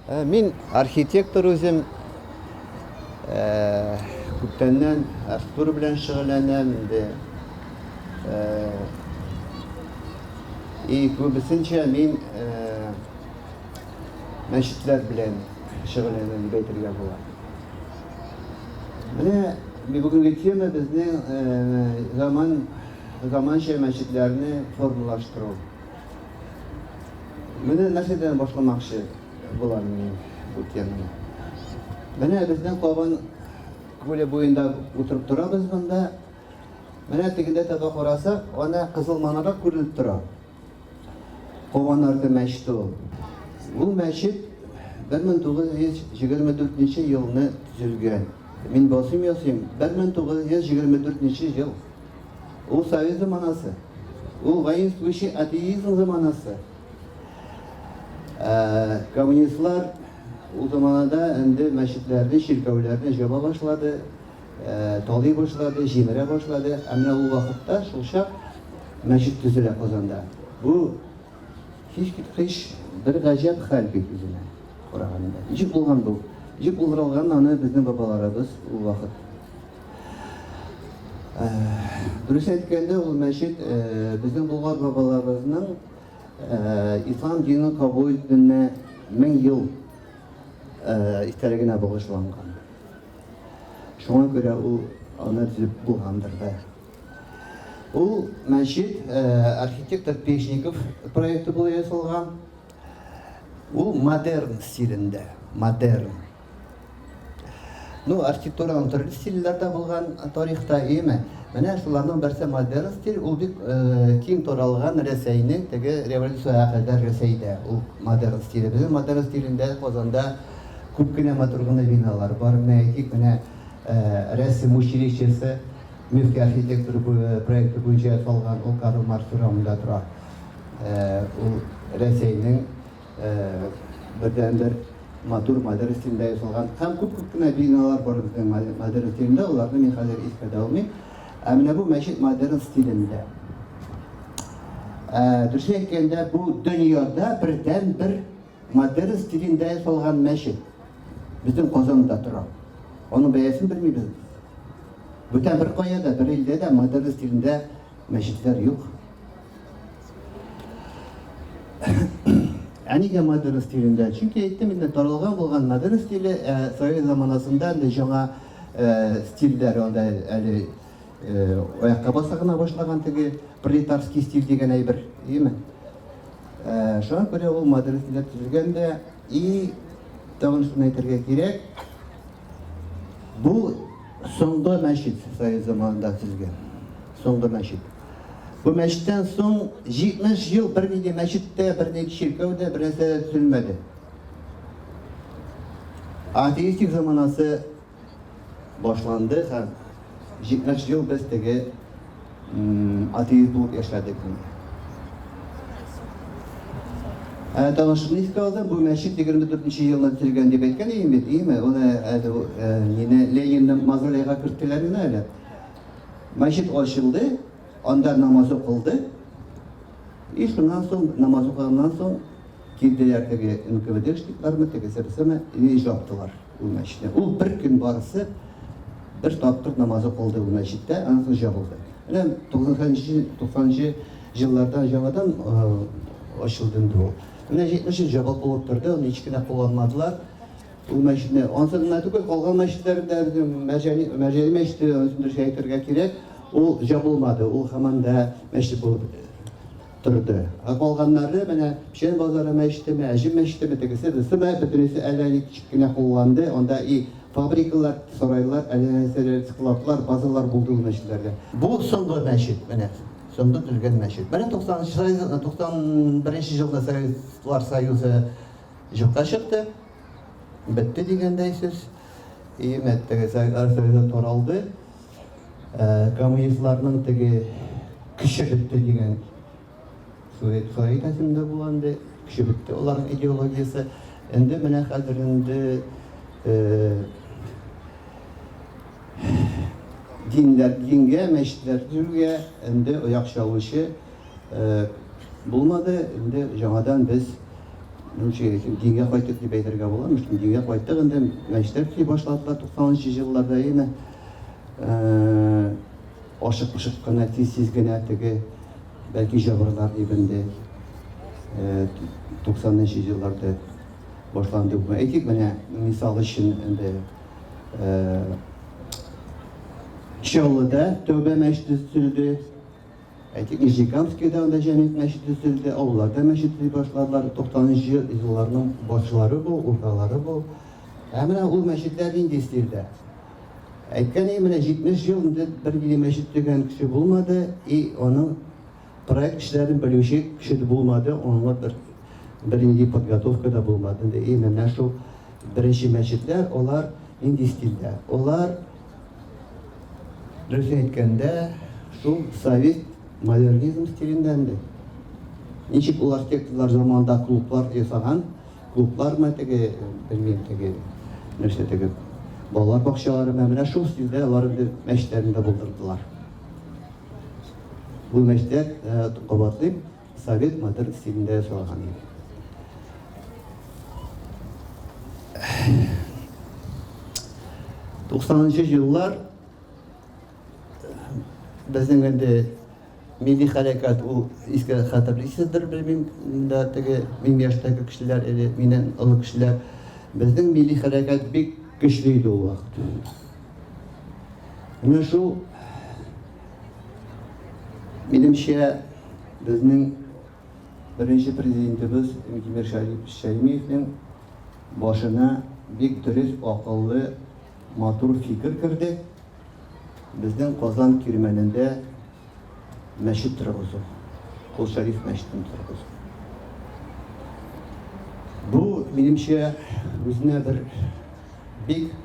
Ә, мин архитектор үзем. Ә, күптәннән архитектура белән шөгыльләнәм инде. Ә, и күбесенчә мин ә, мәчетләр белән шөгыльләнә дип әйтергә була. Менә бүгенге тема безнең заман заманча мәчетләрне формалаштыру. Менә нәрсәдән башламакчы булам мин бу теманы. Менә безнең кабан күле буенда утырып торабыз монда. Менә тегендә таба карасак, ана кызыл манарак күренеп тора. Кованарты мәчте ул. Бу мәчет 1924 нче елны төзелгән. Мин басыйм ясыйм, 1924 нче ел. Ул совет заманасы. Ул воинствующий атеизм заманасы. Ә, коммунистлар ул заманада инде мәчетләрне, чиркәүләрне җаба башлады. талый башлады, җимерә башлады. Ә менә ул вакытта шулчак мәчет төзелә Казанда. Бу һичкиткеч бер гаҗәп хәл бит үзенә караганда. Ничек булган бу? Ничек булдырылган аны безнең бабаларыбыз ул вакыт Э, дөрес әйткәндә ул мәчет э, безнең булгар бабаларыбызның э, ислам динен кабул итүенә мең ел истәлегенә багышланган Шуңа күрә ул аны төзеп булгандыр да. Ул мәчет архитектор Пешников проекты була ясалган. Ул модерн стилендә, модерн. Ну, архитектураның төрле стильләрдә булган тарихта иеме? Менә шуларның берсе модерн стиль, ул бик киң таралган Рәсәйнең теге революциягә кадәр Рәсәйдә ул модерн стиле. Безнең модерн стилендә Казанда Күп кенә матур гына биналар бар. Менә әйтик, менә рәсем училищесы Мөфти архитектура проекты буенча ясалган, ул Карл Маркс урамында тора. Ул Рәсәйнең бердәнбер матур Мадәрис илендә ясалган һәм күп-күп кенә биналар бар безнең Мадәрис илендә, аларны мин хәзер искә дә алмыйм. Ә менә бу мәчет Мадәрис стилендә. Дөресен әйткәндә, бу дөньяда бердәнбер Модерн стилендә ясалган мәчет безнең Казанда тора. Аның бәясен белмибез без. Бүтән беркая да, бер илдә дә модерн стилендә мәчетләр юк. Ә нигә модерн стилендә? Чөнки әйттем инде, таралган булган модерн стиле, ә совет заманасында инде җаңа стильдәр анда әле Аякка баса гына башлаган теге пролетарский стиль дигән әйбер, димме? Шуңа күрә ул мадрес дип төзелгән дә и тагын шуны әйтергә кирәк. Бу соңгы мәчет совет заманында төзелгән. Соңгы мәчет. Бу мәчеттән соң 70 ел бер нинди мәчеттә, бер нинди чиркәүдә бернәрсә төзелмәде. Атеистик заманасы башланды һәм 70 ел без теге атеист булып яшәдек. Ә танышымны искә алдым, бу мәчет 24 елда төзелгән дип әйткән идем бит, име? Аны әле мине Ленинның мавзолейга керттеләр генә әле. Мәчет ачылды, анда намаз укылды. И шуннан соң намаз укылганнан соң Килделәр теге НКВДшниклармы, тегесемесеме, өй жаптылар ул мәчетне. Ул бер көн барысы бер тапкыр намазы кылды ул мәчеттә, аннан соң жабылды. Менә 90-нчы, 90-нчы җилларда яңадан ачылды инде ул. Менә 70 ел жабык булып торды, аны һич кенә кулланмадылар. Ул мәчетне, ансын гына түгел, калган мәчетләрдә безнең Мәҗәни, Мәҗәни мәчете, ансын дөрес әйтергә кирәк, ул жабылмады, ул һаман да мәчет булып торды. Ә калганнары, менә Печән базары мәчетеме, Әҗем мәчетеме, тегесе, берсе дә, бөтенесе әллә ни кечкенә кулланды, анда и фабрикалар, сарайлар, әллә нәрсәләр, складлар, базалар булды ул мәчетләрдә. Бу соңгы мәчет, менә соңгы төзелгән мәчет. Менә 91 елда Советлар Союзы юкка чыкты, бетте дигәндәй сүз. И мәттәгә Советлар Союзы таралды. Коммунистларның теге көче бетте дигән сурет хәрәкәтендә булган инде, көче бетте аларның идеологиясе. Инде менә хәзер инде динләр, дингә, мәчетләр төргә инде ояк чалучы булмады. Инде яңадан без дингә кайттык дип әйтергә була. Мөштин дингә кайттык инде. Мәчетләр төзи башладылар 90 елларда яме. Ашык-пошык кына тиз-тиз генә теге бәлки җабырлар дип инде 90 нчы елларда башланды. Әйтик, менә мисал өчен инде Чаллыда Тәүбә мәчете төзелде. Ә тик Нижнекамскида анда Җәмигъ мәчете төзелде, авылларда мәчет төзи башладылар. 90 нчы елларның башлары бу, урталары бу. Ә менә ул мәчетләр нинди стильдә? Әйткән менә 70 ел инде бер генә мәчет төзегән кеше булмады, и аның проект эшләрен белүче кеше дә булмады, аңа бер бернинди подготовка да булмады. И менә шул беренче мәчетләр, алар нинди стильдә? Алар Дөрес әйткәндә, шул совет модернизм стилендән дә. Ничек ул архитекторлар заманында клублар ясаган, клублар ма теге, белмим теге, нәрсә теге, балалар бакчалары ма, менә шул стильдә алар инде мәчетләрендә булдырдылар. Бу мәчетләр, кабатлыйм, Совет матер стилендә ясалган иде. Туксанынчы еллар безнең инде милли хәрәкәт ул искә хәтерлисездер белмим да теге мин яшьтәге кешеләр әле миннән олы кешеләр безнең милли хәрәкәт бик көчле иде ул вакыт менә шул Минемчә, безнең беренче президентыбыз Минтимер Шәймиевнең башына бик дөрес, акыллы, матур фикер керде. Безнең Казан Кирмәнендә мәчет торгызу, Кол Шәриф мәчетен торгызу. Бу, минемчә, үзенә бер бик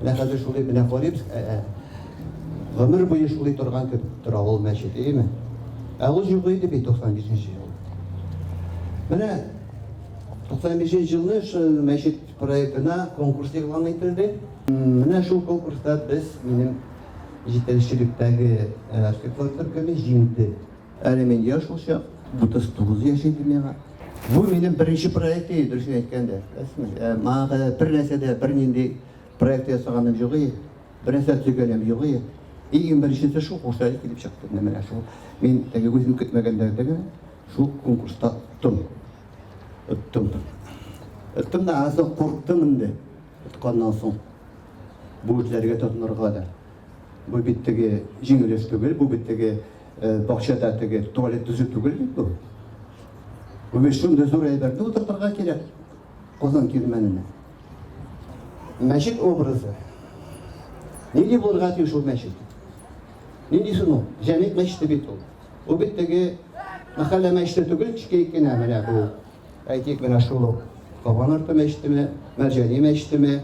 Менә хәзер шулай менә карыйбыз, ә, ә, гомер буе шулай торган кебек тора ул мәчет, әйеме? Ә ул юк иде бит 95 нче ел. Менә 95 нче елны шул мәчет проектына конкурс игълан ителде. Менә шул конкурста без минем җитәкчелектәге архитектор төркеме җиңде. Әле мин яшь шулчак, 39 яшь инде миңа. Бу минем беренче проект иде, дөресен әйткәндә. Ә, мага бер нәрсә дә бернинди проект ясаганым юк иде. Бер нәрсә төзегәнем юк иде. Иң беренчесе шул курслар килеп чыкты. Менә шул. Мин теге үзем көтмәгәндә генә шул конкурста оттым. Оттым. Оттым да азы курктым инде. Отканнан соң бу эшләргә тотынырга да. Бу бит теге җиңел эш түгел, бу бит теге Бакчада теге туалет төзү түгел бит бу. Бу бит шундый зур әйберне утыртырга кирәк Казан кирмәненә. Мәчет образы. Нинди булырга тиеш ул мәчет? Нинди соң ул? Җәмигъ мәчете бит ул. Ул бит теге мәхәллә мәчете түгел, кечкенә генә менә бу Әйтик, менә шул ук Кабан арты мәчетеме, Мәрҗани мәчетеме,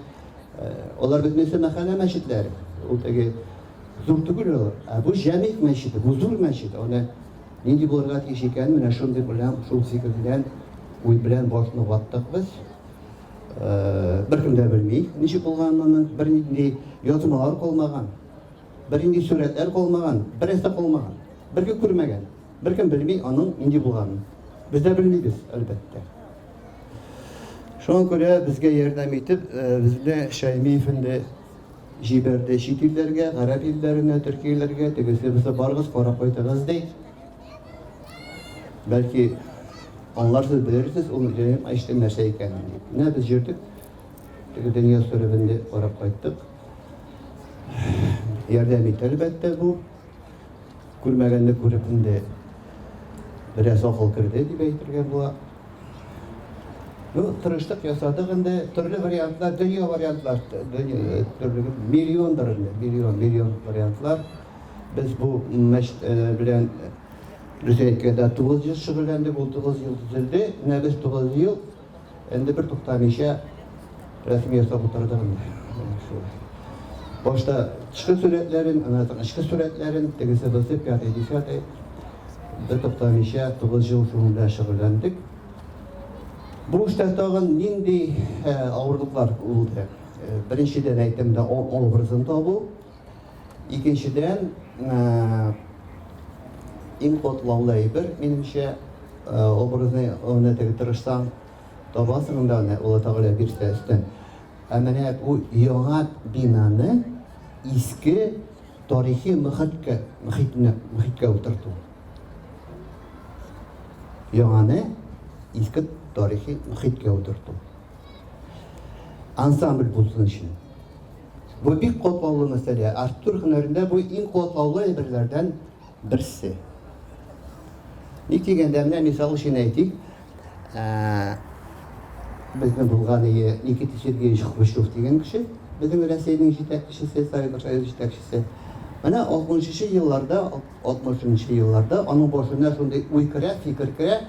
алар бит нәрсә мәхәллә мәчетләре. Ул теге зур түгел ул, ә бу җәмигъ мәчете, бу зур мәчет. Аны нинди булырга тиеш икән, менә шундый белән, шул фикер белән, уй белән башны ваттык без. Беркем дә белми, ничек булганын, бернинди язмалар калмаган, бернинди сурәтләр калмаган, берәрсе калмаган, беркем күрмәгән. Беркем белми аның нинди булганын. Без дә белмибез, әлбәттә. Шуңа күрә безгә ярдәм итеп, безне Шәйми фенде җибәрде чит илләргә, гарәп илләренә, төркияләргә, тегесе булса барыгыз, карап кайтыгыз ди. Бәлки аңларсыз, белерсез, ул җәем әйштем нәрсә икәнен дип. Менә без йөрдек, теге дөнья сөребенде карап кайттык. Ярдәм итте әлбәттә бу. Күрмәгәнне күреп инде бераз акыл керде дип әйтергә була. Ну, тырыштык ясадык инде, төрле вариантлар, дөнья вариантлар, дөнья, төрле, миллиондыр инде, миллион, миллион вариантлар. Без бу мәш белән Рүзәйкәдә 9 ел шөгыльләндек, ул 9 ел төзелде, менә без 9 ел Энди бер туктамыйча рәсем ясап утырдым. Башта тышкы сурәтләрен, аннан соң эчке сурәтләрен, тегесе бысы, пятый, десятый. Бер туктамыйча 9 ел шуның белән шөгыльләндек. Бу эштә тагын нинди авырлыклар булды? Беренчедән әйтәм дә, образын табу. Икенчедән, иң катлаулы әйбер, минемчә, образны үрнәтергә тырышсаң, табасың да аны, Алла Тәгалә бирсә өстен. Ә менә бу яңа бинаны иске тарихи мөхиткә, мөхитне, мөхиткә утырту. Яңаны иске тарихи мөхиткә утырту. Ансамбль булсын өчен. Бу бик катлаулы мәсьәлә. Архитектура һөнәрендә бу иң катлаулы әйберләрдән берсе. Ник дигәндә, менә мисал өчен әйтик, безнең булган ие Никита Сергеевич Хрущев дигән кеше, безнең Рәсәйнең җитәкчесе, Советлар Союзы җитәкчесе. Менә 60-нчы елларда, 60-нчы елларда аның башына шундый уй керә, фикер керә,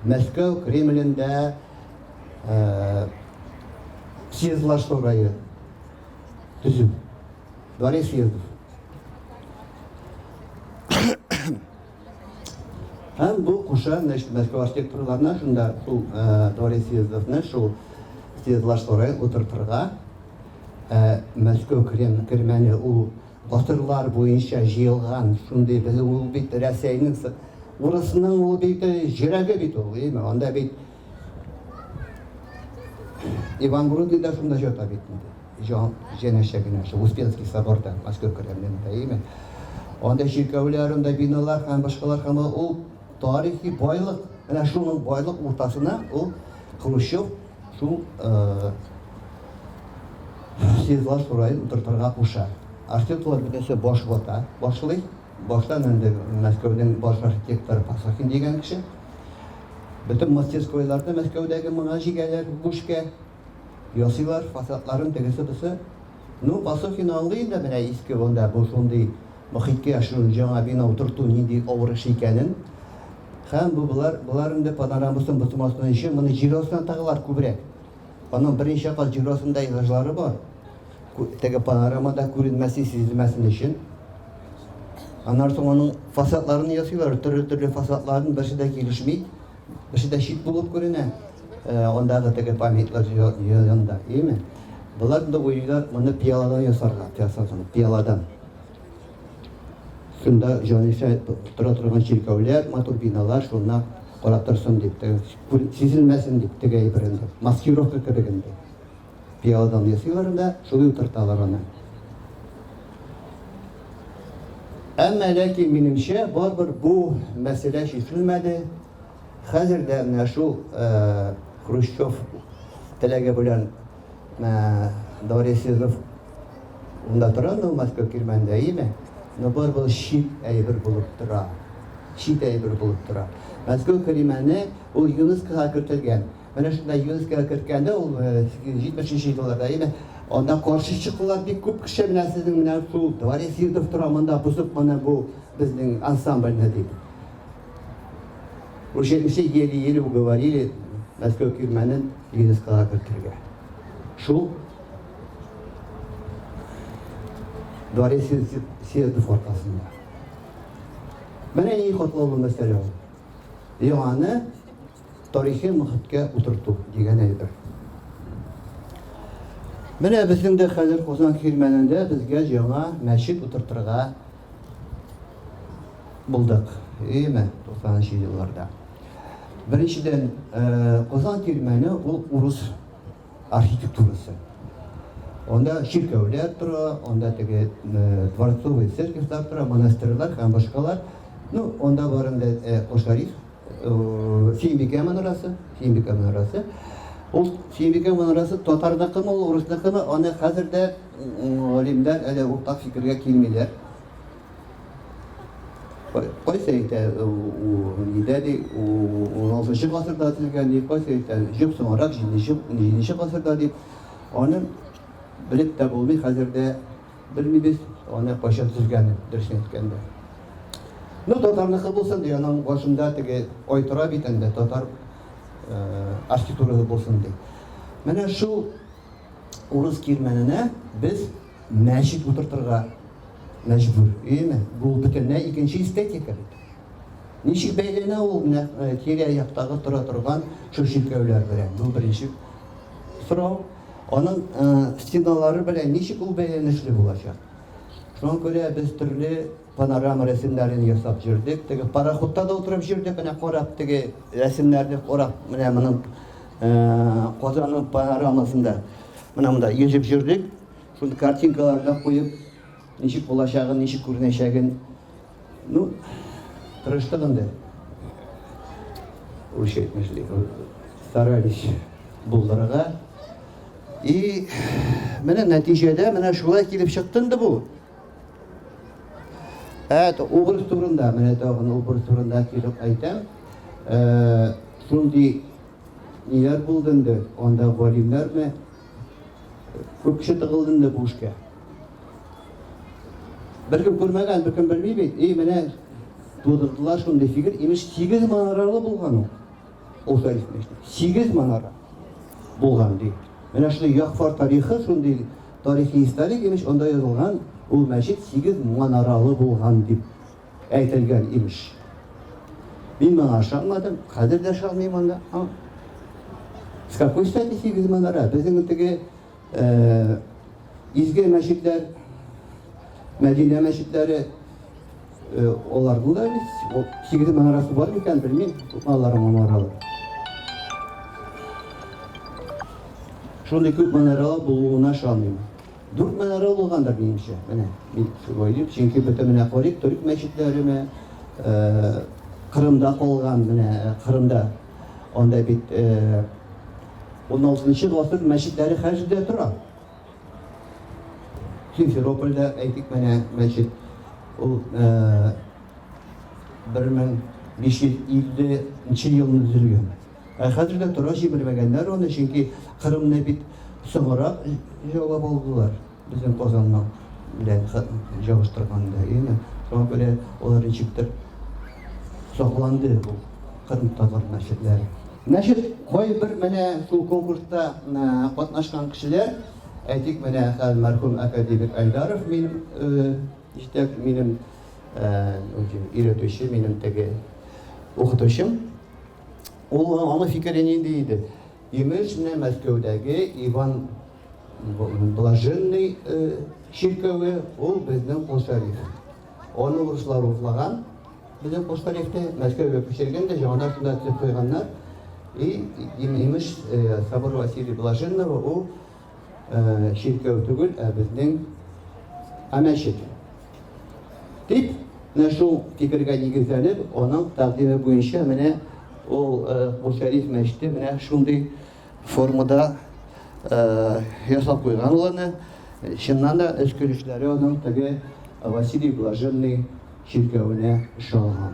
Мәскәү Кремлендә Сиезлашторгайы төзү. Борис Сиездов. Һәм бу куша, значит, Мәскәү архитекторларына шунда шул Борис Сиездовны шул Сиезлашторгай утыртырга Мәскәү кермәне ул батырлар буенча җыелган шундый без ул бит Рәсәйнең урысның ул бит җөрәге бит ул, әйме? Анда бит Ивангород Юдасында җата бит инде. Җан җәнәшә генә шул Успенский соборда, Мәскәү кремлендә, әйеме? Анда чиркәүләр, анда биналар һәм башкалар һәм ул тарихи байлык. Менә шуның байлык уртасына ул Хрущев шул э, Сидлаш Урайын утыртырга куша. Артиклар бөтенесе баш вата, башлый. Башта инде Мәскәүнең баш архитекторы Пасахин дигән кеше. Бөтен мастерскойларны Мәскәүдәге моңа җигәләр, бүшкә ясыйлар, фасадларын тегесе-бусы. Ну, Пасахин аңлый инде менә иске монда бу шундый мохиткә яшерү, җаңа бина утырту нинди авыр эш икәнен. Һәм бу болар, болар инде панорамасын бозмасын өчен моны җир астына тыгалар күбрәк. Аның берничә кат җирасындай гыжлары бар. Теге панорамада күренмәсен, сизелмәсен өчен. Аннан соң аның фасадларын ясыйлар, төрле-төрле фасадларын берсе дә килешми, берсе дә чит булып күренә. Э, андагы теге памятлар янында, яме. Болар да уйлар, моны пиаладан ясарлар, ясарлар, пиаладан. Шунда җанисәп тотыра торган чиркәүләр, матур биналар шуна карап торсын дип, теге сизелмәсен дип, теге әйбер инде. Маскировка кебек инде. Пиаладан ясыйлар да, шулай утырталар аны. Әмма ләкин минемчә, барыбер бу мәсьәлә чишелмәде. Хәзер дә менә шул Хрущев теләге белән Дворец Сизов унда тора, ну, Москва Кирмәндә, име? Ну, бар был чит әйбер булып тора. Чит әйбер булып тора. Москва Кирмәне ул ЮНЕСКОга кертелгән. Менә шунда ЮНЕСКОга керткәндә ул 70-нче елларда, име? Анда каршы чыкулар бик күп кеше менә сезнең менә шул Дворец Сизов тора монда бозып моны бу безнең ансамбльне дип. Уже үсе еле-еле уговорили Мәскәү кирмәнен ЮНЕСКОга кертергә. Шул дворец съездов аркасында. Менә ни котлаулы мәсьәлә ул. Яңаны тарихи мөхиткә утырту дигән әйбер. Менә безнең дә хәзер Казан кирмәнендә безгә яңа мәчет утыртырга Булдык, әйеме, 90-нчы елларда. Беренчедән, Казан тирмәне ул урыс архитектурасы. Анда чиркәүләр тора, анда теге дворцовый церковьлар тора, монастырьлар һәм башкалар. Ну, анда барында Кошариф Сөембикә манарасы, Сөембикә манарасы. Ул Сөембикә манарасы татарныкымы, ул урысныкымы, аны хәзер дә галимнәр әле уртак фикергә килмиләр. Кайсы әйтә, нидә ди, 16 гасырда төзелгән ди, кайсы әйтә, җөп соңрак 7 гасырда ди. Аны белеп тә булмый хәзер дә Белмибез аны кайчан төзгәнен, дөресен әйткәндә. Ну, татарныкы булсын ди, аның башында теге ай тора бит инде, татар архитектурасы булсын ди. Менә шул урыс кирмәненә без мәчет утыртырга мәҗбүр. Әйеме? Бу бөтенләй икенче эстетика бит. Ничек бәйләнә ул менә тирә-яктагы тора торган шул чиркәүләр белән? Бу беренче сорау. Аның стеналары белән ничек ул бәйләнешле булачак? Шуңа күрә без төрле панорама рәсемнәрен ясап җөрдек. Теге пароходта да утырып җөрдек, менә карап теге рәсемнәрне карап, менә моның Казанның панорамасында менә монда йөзеп җөрдек. Шуны картинкаларга куеп, ничек булачагын, ничек күренәчәген Ну, тырыштык инде. Үч әйтмешли. Старались булдырырга. И менә нәтиҗәдә менә шулай килеп чыкты инде бу. Әт образ турында, менә тагын образ турында килеп әйтәм. Э, шундый ниләр булды инде, анда галимнәрме, Күп кеше тыгылды инде бу эшкә. Беркем күрмәгән, беркем белми бит. И, менә тудырдылар шундый фикер. Имеш, 8 манаралы булган ул. Ул тарихмеште. 8 манара булган ди. Менә шундый Якфар тарихы шундый тарихи историк имеш, анда язылган, ул мәчет 8 манаралы булган дип. Әйтелгән, имеш. Мин моңа ышанмадым, хәзер дә ышанмыйм анда. С какой стати сигез манара? Безнең теге э, изге мәчетләр, Мәдинә мәчетләре э, олардың да бит сигез манарасы бар микән белмим, аларым манаралы. Шундый күп манаралы булуына ышанмыйм. Дүрт мәнәрә булгандыр, минемчә. Менә мин шулай уйлыйм, чөнки бөтен менә карыйк, төрек мәчетләре мә, э, Кырымда калган, менә э, Кырымда анда бит э, 16-нчы гасыр мәчетләре хәзер дә тора. Симферопольдә әйтик менә мәчет ул э, 1550 нче елны төзелгән. Ә хәзергә тора җибәрмәгәннәр аны, чөнки Кырымны бит соңрак җаулап алдылар, безнең Казанның белән җавыштырганда, яме шуңа күрә алар ничектер сакланды бу Кырым татар мәчетләре. Мәчет бай бер менә шул конкурста катнашкан кешеләр, әйтик менә хәзер мәрхүм академик Айдаров минем җитәк, минем өйрәтүче, минем теге укытучым. Ул аны фикере нинди иде? Имеш, менә Мәскәүдәге Иван Блаженный чиркәве, ул безнең Костариф. Аны урыслар урлаган, безнең Костарифны Мәскәүгә күчергән дә, җанына сүнәтлеп куйганнар. И, имеш, Собор Василий Блаженного, ул чиркәү түгел, ә безнең ә мәчет. Дип, менә шул фикергә нигезләнеп, аның тәкъдиме буенча менә ул бу шәриф мәчете менә шундый формада ясап куйган ул аны. Чыннан да эшкөрүчеләре аның теге Василий Блаженный чиркәвенә ошаган.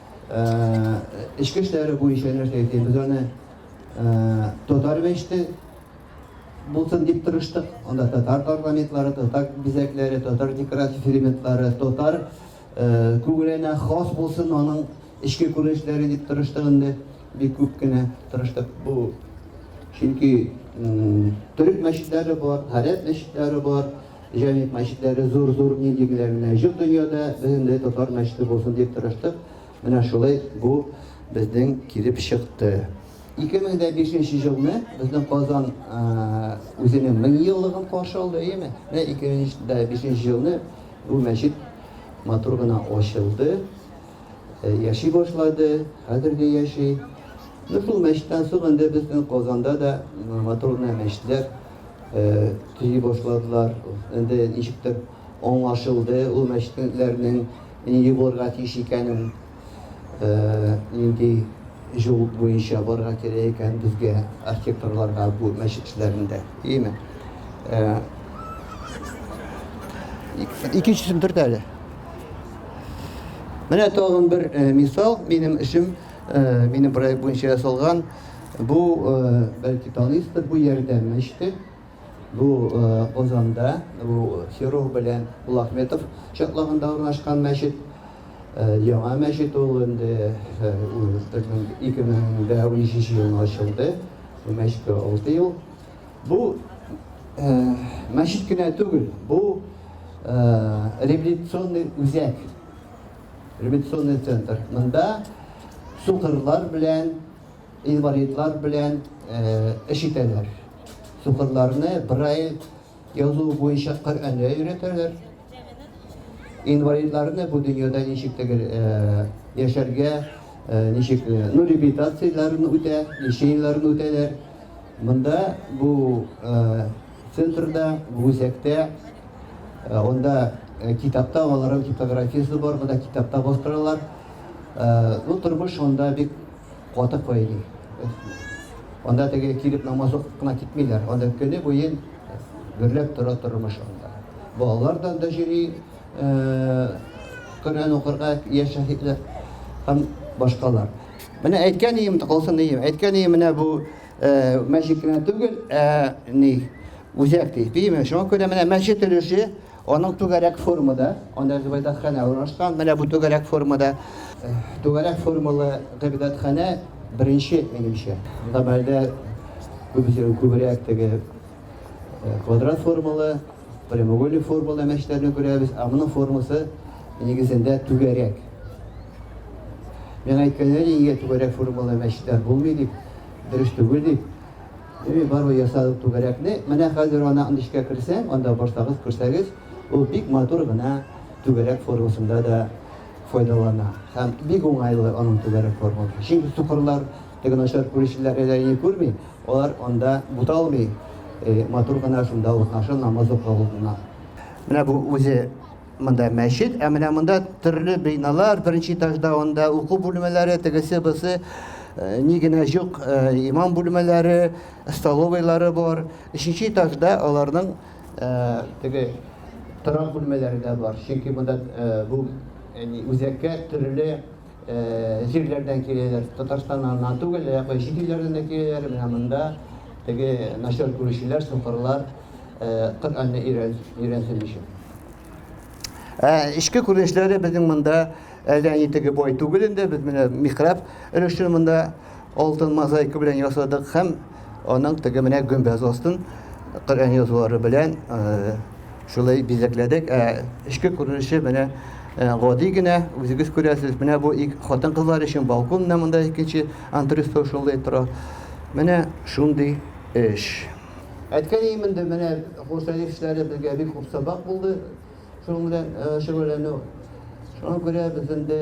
Эчке эшләре буенча нәрсә әйтим, без аны татар мәчете булсын дип тырыштык. Анда татар парламентлары, татар бизәкләре, татар декоратив элементлары, татар күңеленә хас булсын аның эчке күренешләре дип тырыштык инде. Бик күп кенә тырыштык бу. Чөнки төрек мәчетләре бар, гарәп мәчетләре бар. Җәмигъ мәчетләре зур-зур нил җиңеләгенә җор дөньяда белемле татар мәчете булсын дип тырыштык. Менә шулай бу безнең килеп чыкты. 2005 җылны безнең Казан үзенең 1000 еллыгын каршы алды, әйеме? Менә 2005 җылны бу мәчет матур гына ачылды, яши башлады, хәзер дә яши. Шул мәчеттән соң инде безнең Казанда да матур гына мәчетләр төзи башладылар. Инде ничектер аңлашылды ул мәчетләрнең нинди булырга тиеш икәнен, нинди юл буенча барырга кирәк икән безгә архитекторларга бу мәчет эшләрендә. Ими. Икенчесен төрт әле. Менә тагын бер мисал минем эшем Минем проект буенча ясалган. Бу, бәлки таныйсыздыр, бу ярдәм мәчете. Бу Казанда, бу Серов белән Булахметов чатлагында урнашкан мәчет. Яңа мәчет ул инде 2013 елында ачылды. Бу мәчеткә 6 ел. Бу мәчет кенә түгел, бу реабилитационный үзәк. Реабилитационный центр. Монда сукырлар белән, инвалидлар белән эш итәләр. Сукырларны брайль язу буенча Коръәнгә өйрәтәләр. Инвалидларны бу дөньяда ничек тегер яшәргә, ничек ну реабилитацияләрен үтә, лечениеләрен үтәләр. Монда бу Центрда, бу үзәктә, анда китапта аларның типографиясе бар, монда китапта бастыралар. Ну, тормыш анда бик каты кайный. Анда теге килеп намаз укып кына китмиләр. Анда көне буе гөрләп тора тормыш анда. Балалар да анда йөри, Коръән укырга яшь шәһитләр һәм башкалар. Менә әйткән ием, калсын ием. Әйткән ием, менә бу мәчет кенә түгел, ә ни үзәк ди. Димә, шуңа күрә менә мәчет өлеше аның түгәрәк формада, анда гыйбадәтханә урнашкан. Менә бу түгәрәк формада, түгәрәк формалы гыйбадәтханә беренче минемчә. Гамәлдә күбесе күбрәк теге квадрат формалы Прямоугольник формалы мәчләрне күрәбез, ә моның формасы нигезендә түгәрәк. Миңа әйткәннәр инде түгәрәк формалы мәчләр булмый дип, дөрес түгел дип. Ими бару ясадык түгәрәкне. Менә хәзер ана андышка керсәң, анда барсагыз, күрсәгез, ул бик матур гына түгәрәк формасында да файдалана. Һәм бик уңайлы аның түгәрәк формасы. Чөнки сукырлар Теге начар күрүчеләр әле әйе күрми, алар анда буталмый, матур гына шунда урнашып намаз укып алдына. Менә бу үзе монда мәчет, ә менә монда төрле биналар, беренче этажда анда уку бүлмәләре, тегесе бусы Э, ни генә җук э, имам бүлмәләре, столовыйлары бар. Өченче этажда аларның э, теге торак бүлмәләре дә бар. Чөнки монда бу үзәккә төрле җирләрдән киләләр, Татарстаннан гына түгел, ә якын чит илләрдән дә киләләр, менә монда теге начар күрүчеләр, сукырлар Коръәнне өйрәнсен өчен. Ә эчке күренешләре безнең монда әллә ни теге бай түгел инде, без менә михраб өлешен монда Алтын мозаика белән ясадык һәм аның теге менә гөмбәз астын Коръән язулары белән шулай бизәкләдек. Ә эчке күренеше менә гади генә, үзегез күрәсез. Менә бу хатын-кызлар өчен балкон, менә монда икенче антресо шулай тора. Менә шундый эш. Әткәй иминде менә Хусаевчлары безгә бик күп сабак булды. Шуның белән шөгыльләнү. Шуңа күрә без инде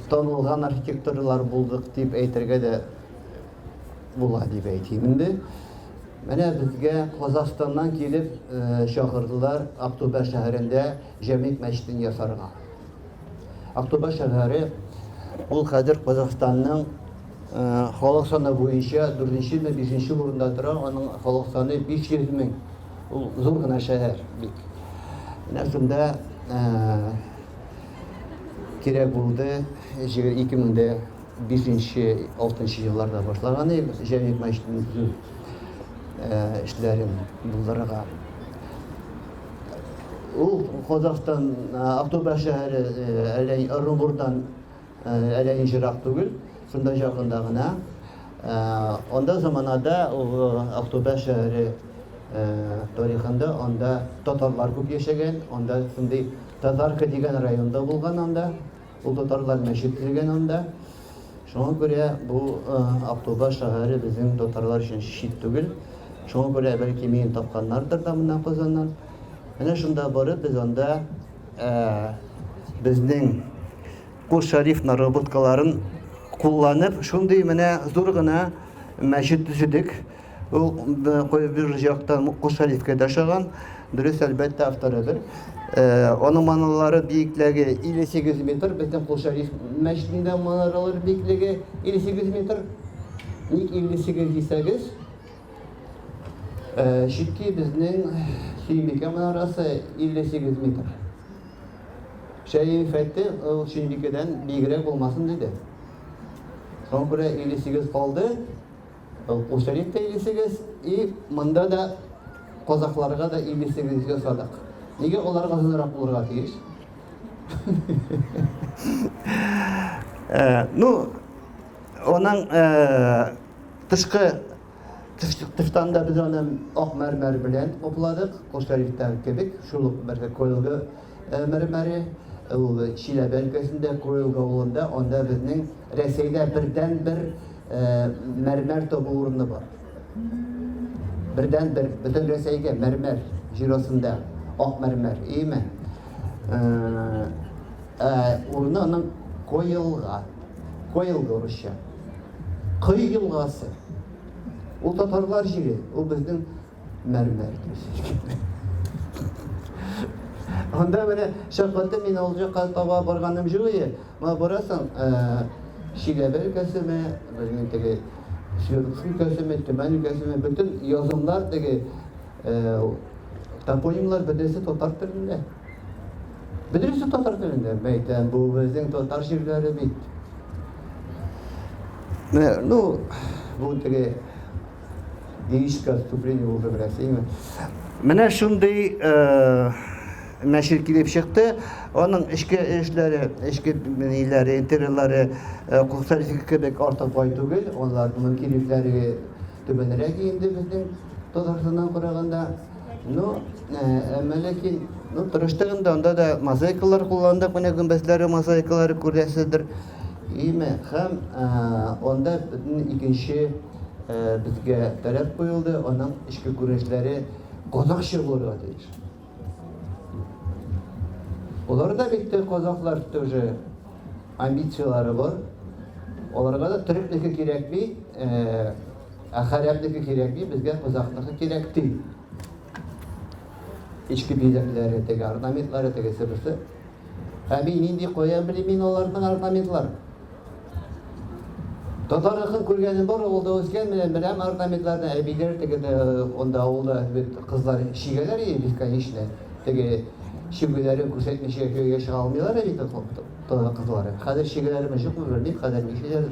танылган архитекторлар булдык дип әйтергә дә була дип әйтим инде. Менә безгә Казахстаннан килеп чакырдылар Актубәр шәһәрендә Җәмик мәчетен ясарга. Актубаш шәһәре ул хәзер Казахстанның халык саны буенча дүртенче ме бишенче урында тора, аның халык саны 500 мең. Ул зур гына шәһәр бик. Менә шунда кирәк булды 2005-6 елларда башлаган җәмигъ мәчетен төзү эшләрен булдырырга. Ул Казахстан Актоба шәһәре әллә Ырынбурдан әллә ничерак түгел, шунда якында гына. Анда заманада ул Актоба шәһәре тарихында анда татарлар күп яшәгән, анда шундый татарка дигән районда булган анда. Ул татарлар мәчет төзегән анда. Шуңа күрә бу Актуба шәһәре безнең татарлар өчен чит түгел. Шуңа күрә бәлки мине тапканнардыр да моннан Казаннан. Менә шунда барып без анда безнең Кул Шәриф наработкаларын кулланып, шундый менә зур гына мәчет төзедек. Ул бер яктан Кол Шәрифкә дә ошаган. Дөрес, әлбәттә, авторыдыр. Аның манаралары биеклеге 58 метр. Безнең Кол Шәриф мәчетендә манаралар биеклеге 58 метр. Ник 58 дисәгез, чөнки безнең Сөембикә манарасы 58 метр. Шәриф әйтте, ул Сөембикәдән биегрәк булмасын диде. Шуңа күрә 58 калды. Укучылык тәйлисегез и монда да казахларга да илисегезгә садак. Нигә аларга озынрак булырга тиеш? Э, ну, аның э, тышкы тыштан да без аны ак мәрмәр белән капладык, Кошарифтан кебек, шул ук бер коелгы Мәрмәре, ул Чиләбе өлкәсендә, Кроилка авылында, анда безнең Рәсәйдә бердәнбер мәрмәр табу урыны бар. Бердәнбер, бөтен Рәсәйгә мәрмәр җир астында, ак мәрмәр, иеме? Урыны аның Коелга, Коелга урысча. Кой елгасы. Ул татарлар җире, ул безнең мәрмәр төс. Анда менә шәфкатьтә мин ул җакка таба барганым юк иде. Ма барасың, Чиләбе өлкәсеме, безнең теге Свердловск өлкәсеме, Төмән өлкәсеме, бөтен язымнар теге топонимлар бөтенесе татар телендә. Бөтенесе татар телендә. Бәйтәм, бу безнең татар җирләре бит. Менә, ну, бу теге Лирическое отступление булды бераз, әйме? Менә шундый э, нәшир килеп чыкты. Аның эшке эшләре, эшке ниләре, интерьерлары э, кухтарчык кебек артык бай түгел. Алар мөмкинлекләре түбәнрәк инде безнең Татарстаннан караганда. Ну, әмма э, ләкин ну, тырыштыгында анда да мозаикалар кулландык, менә гөмбәзләре мозаикалары күрәсездер. Име, һәм анда икенче безгә таләп куелды, аның эчке күренешләре казахча булырга тиеш. Алар да бит казахлар тоже амбицияләре бар. Аларга да төрекнеке кирәкми, ә хәрәпнеке кирәкми, безгә казахныкы кирәк ди. Эчке бизәкләре, теге орнаментлары, тегесе берсе. Ә мин нинди кая белим мин аларның орнаментларын? Татар рухын күргәнем бар, ул да үскән менә менә орнаментларны әбиләр тегеде онда авылда бит кызлар чигәләр иде бесконечно. Теге чигүләрен күрсәтмичә көйгә чыга алмыйлар бит татар кызлары. Хәзер чигәләрме юкмы белмим, хәзер ничәләр.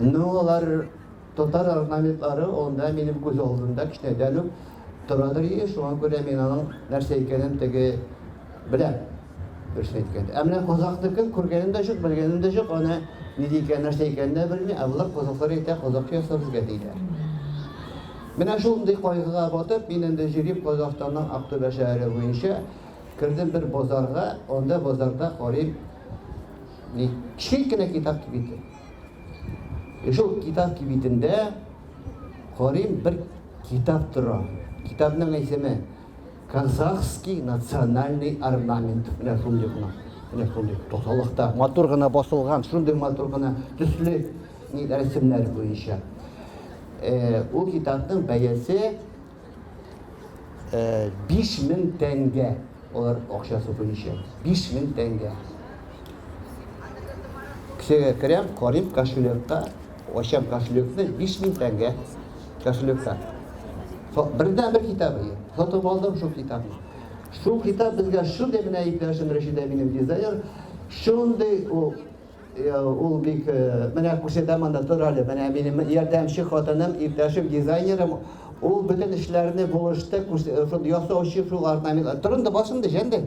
Ну, алар Татар орнаментлары анда минем күз алдында кечкенәдән үк торадыр иде, шуңа күрә мин аның нәрсә икәнен теге беләм, дөресен әйткәндә. Ә менә казакъныкын күргәнем дә җук, белгәнем дә җук, аны ни дигән, нәрсә икәнен дә белми, ә болар казакълар әйтә, казакъ яса безгә диләр. Менә шундый кайгыга батып, мин инде җөрим Казахстанның Актүбә шәһәре буенча, кердем бер базарга, анда базарда карыйм, ни, кечкенә кенә китап кибете. И шул китап кибитендә карыйм бер китап тора. Китапның исеме Казахский национальный орнамент. Менә шундый гына. Менә шундый тосалыкта матур гына басылган, шундый матур гына төсле рәсемнәр буенча. Ул китапның бәясе Биш мең тәнгә. Алар акча супы ничә? Биш мең тәнгә. Кесәгә керәм, карыйм кошелекка, ачам кошелекны, биш мең тәнгә кошелекка. Бердән бер китабы. Сатып алдым шул китапны. Шул китап безгә шундый менә иптәшем Рәшидә минем дизайнер, шундый ул Ул бик менә күрсәтә монда тор әле. Менә минем ярдәмче хатыным, иптәшем, дизайнерым. Ул бөтен эшләрне булышты, шул ясаучы, шул орнамент. Торында басымды җәнде.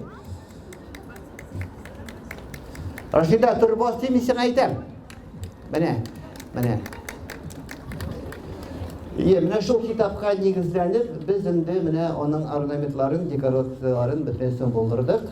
Рашида, тор бас дим, сиңа әйтәм. Менә, менә. Е, менә шул китапка нигезләнеп, без инде менә аның орнаментларын, декорацияләрен бөтенесен булдырдык.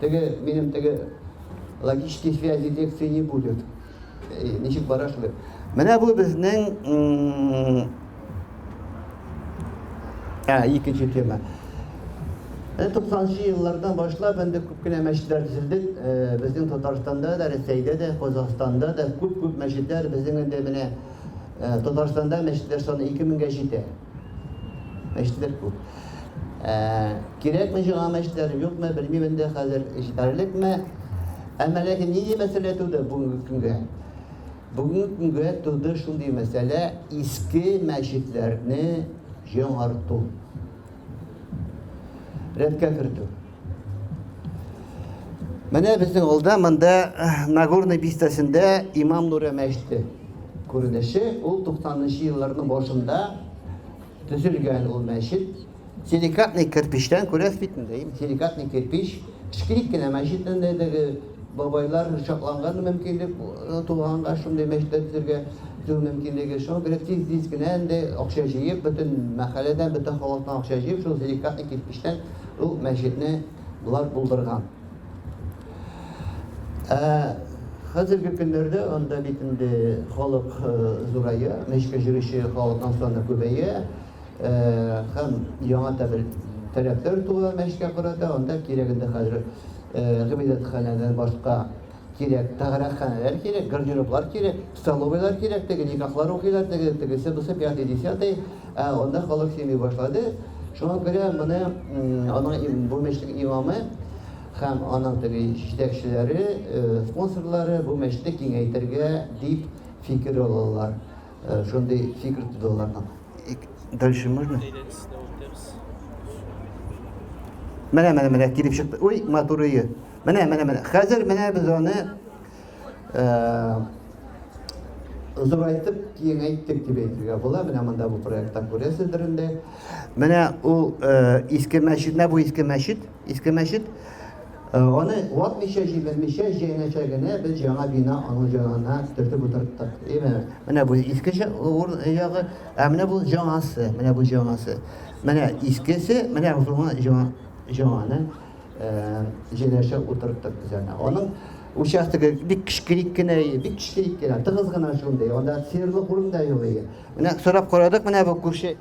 Теге, минем теге логические связи лекции не будет. Э, ничек бара шулай. Менә бу безнең ә, икенче тема. Ә, 90-нчы еллардан башлап инде күп кенә мәчетләр төзелде. Ә, безнең Татарстанда да, Рәсәйдә дә, Казахстанда да күп-күп мәчетләр безнең инде менә Татарстанда мәчетләр саны 2000-гә җитә. Мәчетләр күп. Ә, кирәкме җиңа мәчетләр, юкмы, белмим инде хәзер, җитәрлекме. Әмма ләкин нинди мәсьәлә туды бүгенге көнгә? Бүгенге көнгә туды шундый мәсьәлә, иске мәчетләрне җиңарту. Рәткә кертү. Менә безнең алда монда э, Нагорный бистәсендә Имам Нуре мәчете күренеше. Ул 90-нчы елларның башында төзелгән ул мәчет. Силикатный кирпичтән күрәсез бит инде. Силикатный кирпич шкрик кенә мәчет инде бабайлар чакланган мөмкинлек э, туганга шундый мәчетләр төзергә төзү мөмкинлеге. Шуңа күрә тиз-тиз генә инде акча җыеп, бөтен мәхәлләдән, бөтен халыктан акча җыеп, шул силикатный кирпичтән Ул мәчетне болар булдырган. Ә хәзерге көннәрдә анда бит инде халык зурая, мәчеткә йөрүче халыкның саны күбәя. Һәм яңа табел таләпләр туа мәчеткә карата, анда кирәгендә хәзер гыйбадәтханәдән башка кирәк, тәгарәханәләр кирәк, гардероблар кирәк, столовыйлар кирәк, теге никахлар укыйлар, теге, тегесе, бусы, пятый, десятый. Ә анда халык сөйми башлады. Шуңа күрә моны аның бу мәчетнең имамы һәм аның теге җитәкчеләре, спонсорлары бу мәчетне киңәйтергә дип фикер алалар. Шундый фикер тудылар. Дальше можно? Менә, менә, менә килеп чыкты. Уй, матурые. Менә, менә, менә. Хәзер менә без аны зурайтып киңәйттек дип әйтергә була. Менә монда бу проектта күрәсездер инде. Менә ул иске мәчет, менә бу иске мәчет, иске мәчет. Аны ватмичә, җимермичә, җәйнәчә генә без яңа бина аның янына төртеп утырттык. Әйме? Менә бу иске ягы, ә менә бу җаңасы, менә бу җаңасы. Менә искесе, менә бу җаңаны. җенәшә утырттык без аны. Аның участогы бик кечкерик кенә, бик кечкерик кенә, тыгыз гына шундый. Анда серлы урын да юк иде. Менә сорап карадык, менә бу күрше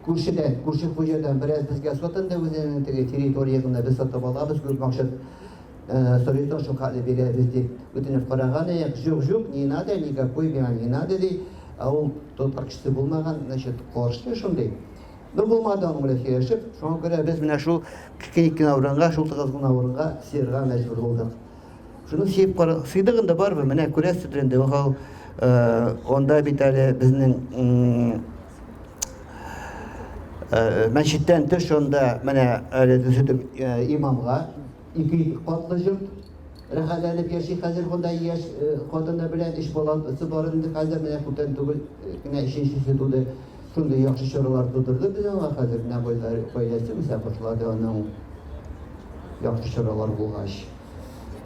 күршедән, күрше хуҗадан бераз безгә сатынды үзенең теге территориясендә без сатып алабыз, күп максат Советон шул хәле бирәбез дип үтенеп караган идек. Җук, җук, не надо, никакой миңа не надо ди. Ә ул тот акчасы булмаган, значит, каршы шундый. Ну, булмады аның белән сөйләшеп, шуңа күрә без менә шул кикеник кенә урынга, шул тыгыз гына урынга сыерга мәҗбүр булдык. Шуны сөеп кара, сыйдык инде барыбер, менә күрәсез инде, ул э, анда бит әле безнең э, мәчеттән тыш анда менә әле төзетеп э, имамга ике катлы җорт рәхәтләнеп яши хәзер монда яшь хатыны белән өч баласы бар инде хәзер менә күптән түгел кенә өченчесе туды Шундый яхшы чорылар тудырды бит аңа хәзер менә гаиләсе үсә башлады аның яхшы чорылар булгач.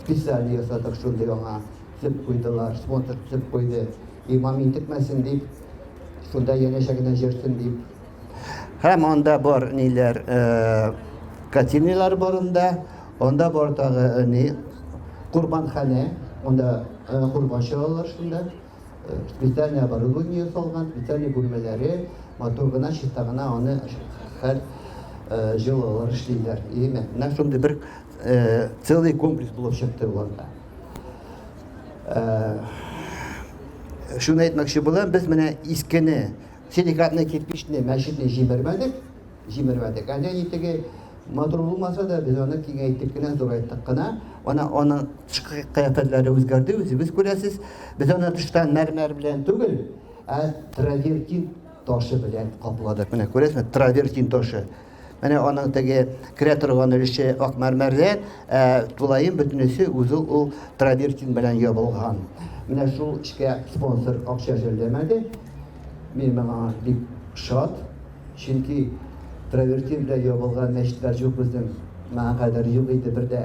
Специально ясадык шундый аңа төп куйдылар, смотр төп куйды. Имам интекмәсен дип, шунда янәшә генә җөрсен дип. Һәм анда бар ниләр, катинияләр бар анда, анда бар тагы ни, курбанханә, анда курбан чыгаралар шунда. специальный оборудование салган, специальный бүлмәләре, матур гына, чиста гына аны һәр э, җылылар эшлиләр. Именно менә шундый бер э, целый комплекс булып чыкты боларда. Э, шуны әйтмәкче булам, без менә искене, силикатный кирпичный мәчетне җибәрмәдек. җимермәдек. Ә нәни теге матур булмаса да, без аны киңәйттек кенә, зурайттык кына. Ана аны тышкы кыяфәтләре үзгәрде, үзегез күрәсез. Без аны тыштан мәрмәр белән түгел, ә травертин ташы белән капладык. Менә күрәсезме, травертин ташы. Менә аның теге керә торган өлеше ак мәрмәрдә, ә тулаем бөтенесе үзе ул травертин белән ябылган. Менә шул эшкә спонсор акча җәлләмәде. Мин моңа бик шат. Чөнки травертин белән ябылган мәчетләр җук безнең, моңа кадәр юк иде бер дә.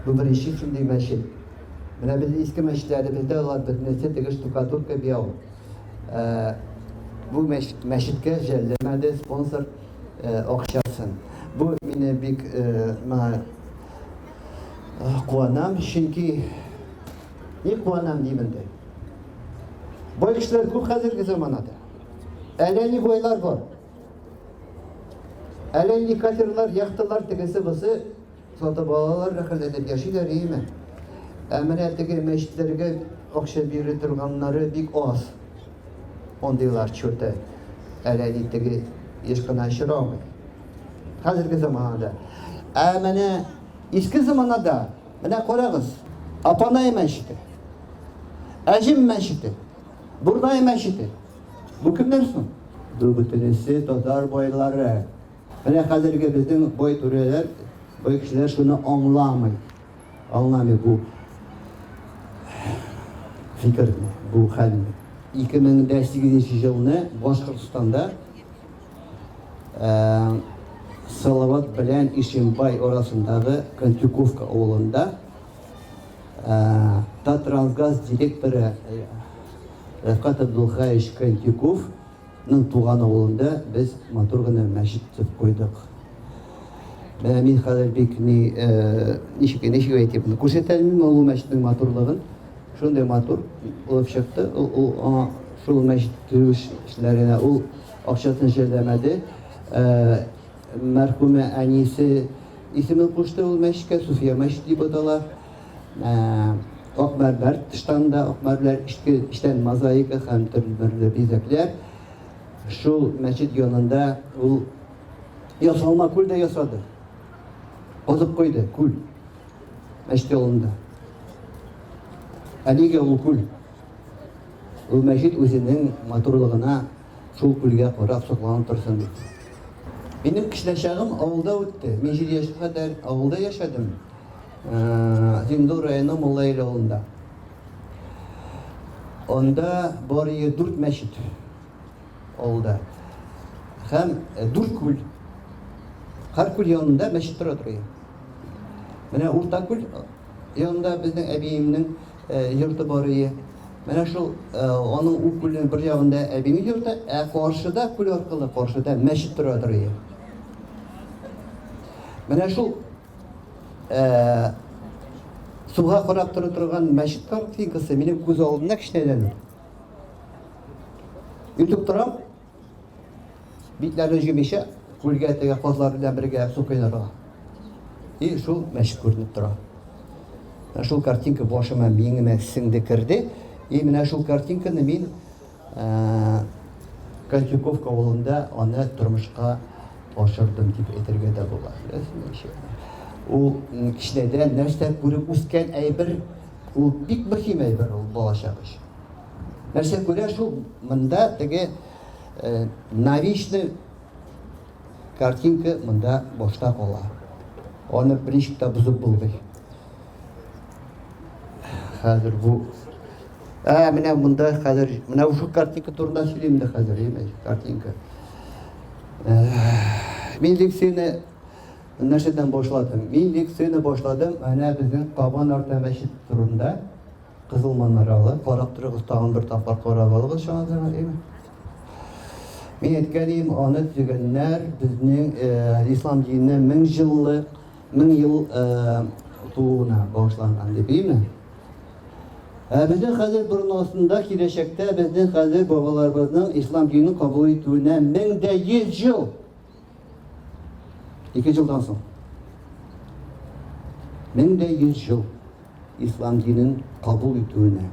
Бу беренче шундый мәчет. Менә без иске мәчетләребездә алар бөтенесе теге штукатурка бияу. Бу мәчеткә жәлләмәде спонсор акчасын. Бу мине бик моңа куанам, чөнки ник куанам дим инде. Бай кешеләр күп хәзерге заманада. Әллә ни бойлар бар. Әллә ни катерлар, яхталар тегесе бусы сатып алалар, рәхәтләнеп яшиләр, иеме? Ә менә теге мәчетләргә акча бирә торганнары бик аз. Ондыйлар чөтә. Әллә ни теге еш кына очрамый. Хәзерге заманада. Ә менә иске заманада, менә карагыз, Апанай мәчете, Әҗем мәчете, Бурдай мәчете. Бу кемнәр соң? Бу бөтенесе татар байлары. Менә хәзерге безнең бай түрәләр, бай кешеләр шуны аңламый. Аңламый бу фикерне, бу хәлне. 2008 елны Башкортстанда ә, Салават белән Ишимбай арасындагы Контюковка авылында Таттрансгаз директоры Рәфкат Абдулхаевич Кантюковның туган авылында без матур гына мәчет төзеп куйдык. Менә мин хәзер бик ни ничек ничек әйтеп күрсәтәлмим ул мәчетнең матурлыгын. Шундый матур булып чыкты. Ул аңа шул мәчет төзү эшләренә ул акчасын җәлләмәде. Мәрхүмә әнисе исемен кушты ул мәчкә, Суфия мәчете дип атала. Ак мәрмәр тыштанда, ак мәрмәр эчтән мозаика һәм төрле бизәкләр. Шул мәчет янында ул ясалма күл дә ясады. Бозып куйды күл. Мәчет янында. Әлегә ул күл. Ул мәчет үзенең матурлыгына Шул күлгә карап сокланып торсын бит. Минем кечкенәчагым авылда үтте. Мин җиде яшькә кадәр авылда яшәдем. Зиндур районы Муллаил авылында. Анда бар ие дүрт мәчет авылда. Һәм э, дүрт күл. Һәр күл янында мәчет тора торган. Менә урта күл янында безнең әбиемнең э, йорты бар ие. Менә шул аның ук күлнең бер ягында әбинең йорты, ә каршыда күл аркылы каршыда мәчет тора торый. Менә шул суга карап тора торган мәчет картинкасы минем күз алдында кечкенәдән. Ютуб торам. Битләрен җимичә, күлгә теге казлар белән бергә су коенырга. И шул мәчет күренеп тора. Ә шул картинка башыма миңемә сеңде керде. И менә шул картинканы мин ә, Кольчуковка авылында аны тормышка ашырдым дип әйтергә дә була. Ул кичнәдән нәрсә күреп үскән әйбер, ул бик мөһим әйбер ул балачак өчен. Нәрсә күрә шул монда теге э, навичный картинка монда башта кала. Аны принципта бозып булмый. Хәзер бу Ә, менә монда хәзер, менә шул картинка турында сөйлим дә хәзер, имеш, картинка. Э, мин лекцияне нәрсәдән башладым? Мин лекцияне башладым, әнә безнең Кабан арта мәчет турында. Кызыл манаралы, карап торыгыз, тагын бер тапкыр карап алыгыз чанадырга дим. Мин әйткәнем, аны төзегәннәр безнең э, ислам диненә мең җыллык, мең ел э, тууына багышланган дип, әйме? Ә безнең хәзер борынасында киләчәктә безнең хәзер бабаларыбызның ислам динен кабул итүенә мең дә йөз ел Ике җылдан соң, мең дә йөз җыл ислам динен кабул итүенә,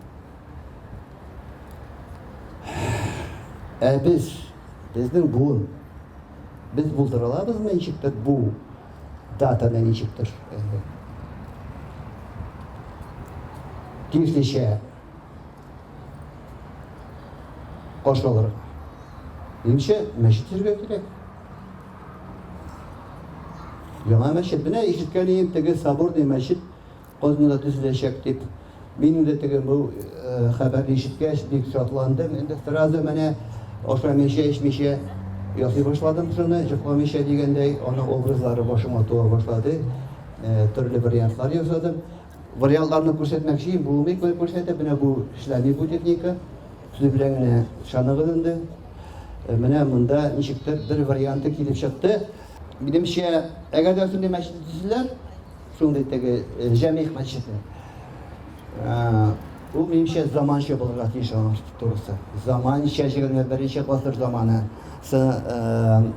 ә без, безнең буын, без булдыра алабызмы ничектер бу датаны ничектер тиешлечә Каш алырга. Ниңчә мәчет җиргә кирәк? Яңа мәчет. Менә ишеткән идем, теге соборный мәчет Кознада төзеләчәк дип. Мин дә теге бу э, хәбәрне ишеткәч бик шатландым. Инде сразу менә ашамыйча, эчмичә ясый башладым шуны, җыкламыйча дигәндәй, аның образлары башыма туа башлады. Э, төрле вариантлар ясадым. Вариантларны күрсәтмәкчи булмый күрсәтеп, менә бу эшләми бу техника. Сүз белән генә ышаныгыз инде. Менә монда ничектер бер варианты килеп чыкты. Минемчә, әгәр дә шундый мәчет төзелсә, шундый теге җәмигъ мәчете. Ул минемчә заманча булырга тиеш аның турысы. Заманча 21 беренче гасыр заманы. сы ын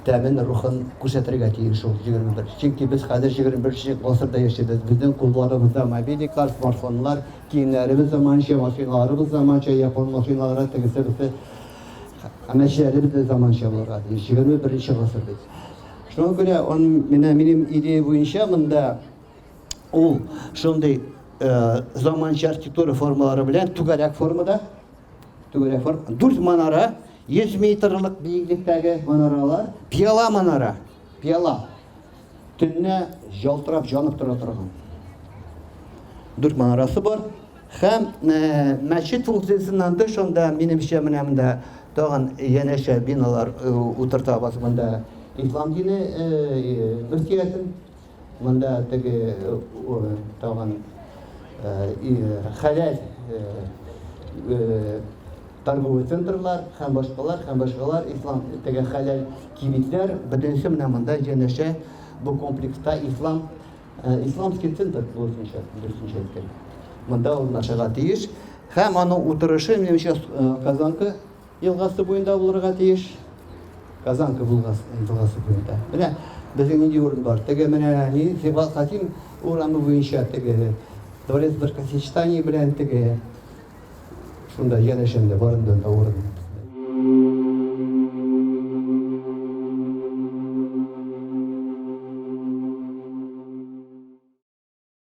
тәмен, рухын күрсәтергә тиеш ул җигерме бер. Чөнки без хәзер җигерме беренче гасырда яшибез. Безнең кулларыбызда мобильниклар, смартфоннар, киемнәребез заманча, машиналарыбыз заманча, япон машиналары, тегесе, бусы. Һәм эшләребез дә заманча булырга тиеш. Җигерме беренче гасыр бит. Шуңа күрә ан менә минем идея буенча монда ул шундый заманча архитектура формалары белән түгәрәк формада, Дүрт манара, 100 метрлык биеклектәге манаралар, пиала манара, пиала. Төнне жалтырап жанып тора торган. Дүрт манарасы бар. Хәм э, мәчет функциясеннән тыш анда минемчә менә монда тагын янәшә биналар э, утыртабыз монда. Ислам дине э, мөфтиятен Монда теге тагын хәләл торговый центрлар һәм башкалар һәм башкалар ислам теге хәләл кибетләр бөтенесе менә монда җәнәшә бу комплекста ислам исламский центр булсынча дөресенчә әйткән монда урнашырга тиеш һәм аның утырышы минемчә казанка Елгасы буенда булырга тиеш. Казанка елгасы буенда. Менә безнең нинди урын бар. Теге менә ни Сибгат Хатим урамы буенча теге дворец бракосочетания белән теге шунда янәшәмдә барында да урын.